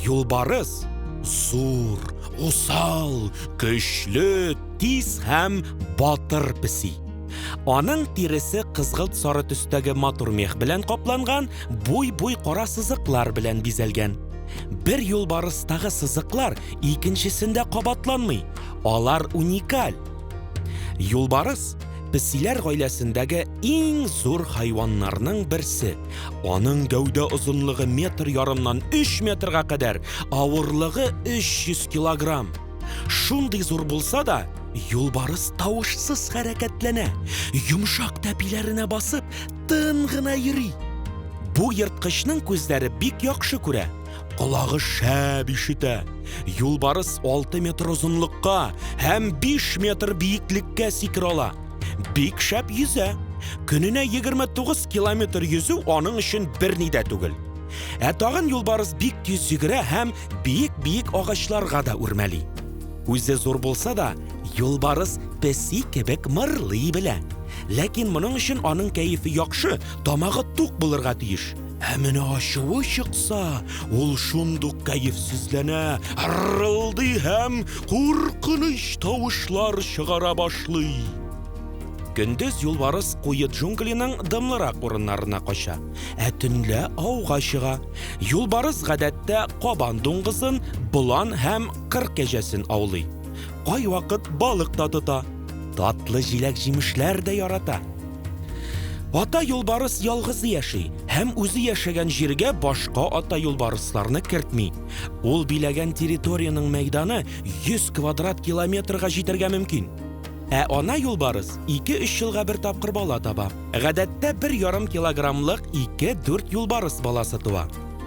Юлбарыс зур, усал, көчле, тиз һәм батыр песи. Аның тиресе кызгылт сары төстәге матур мех белән капланган, буй-буй кара сызыклар белән бизәлгән. Бер юлбарыстагы сызыклар икенчесендә кабатланмый, алар уникаль. Юлбарыс песиләр гаиләсендәге иң зур хайваннарның берсе. Аның гәүдә озынлыгы метр ярымнан 3 метрга кадәр, авырлыгы 300 килограмм. Шундый зур булса да, юлбарыс тавышсыз хәрәкәтләнә. Йомшак тәпиләренә басып, тын гына йөри. Бу ерткычның күзләре бик яхшы күрә, колагы шәп ишетә. Юлбарыс 6 метр озынлыкка һәм 5 метр биеклеккә сикерә ала. Бик шәп йөзә. Көненә 29 километр йөзү аның өчен берни дә түгел. Ә тагын юлбарыс бик тиз йөгерә һәм биек-биек агачларга да үрмәли. Үзе зур булса да, Юлбарыс песи кебек мырлый белә. Ләкин моның өчен аның кәефе яхшы, тамагы тук булырга тиеш. Ә менә ачуы чыкса, ул шундук кәефсезләнә, ырылдый һәм куркыныч тавышлар чыгара башлый. Көндез юлбарыс куе джунглиның дымлырак урыннарына кача, ә төнлә ауга чыга. Юлбарыс гадәттә кабан дуңгызын, болан һәм кыр кәҗәсен аулый. Кайвакыт балык та тота. Татлы җиләк-җимешләр дә ярата. Ата юлбарыс ялгызы яши һәм үзе яшәгән җиргә башка ата юлбарысларны кертми. Ул биләгән территориянең мәйданы 100 квадрат километрга җитәргә мөмкин. Ә ана юлбарыс 2-3 елга бер тапкыр бала таба. Гадәттә бер ярым килограммлык 2-4 юлбарыс баласы туа.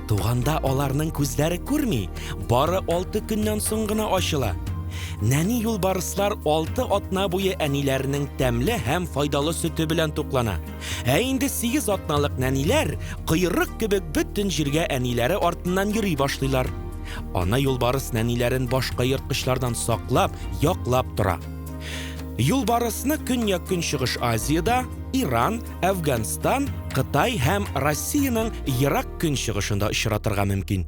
Туганда аларның күзләре күрми, бары алты көннән соң гына ачыла. Нәни юлбарыслар алты атна буе әниләренең тәмле һәм файдалы сөте белән туклана. Ә инде сигез атналык нәниләр кыйрык кебек бөтен җиргә әниләре артыннан йөри башлыйлар. Ана юлбарыс нәниләрен башка ерткычлардан саклап, яклап тора. Юлбарысны Көньяк-Көнчыгыш Азиядә, Иран, Әфганстан, Кытай һәм Россиянең ерак көнчыгышында очратырга мөмкин.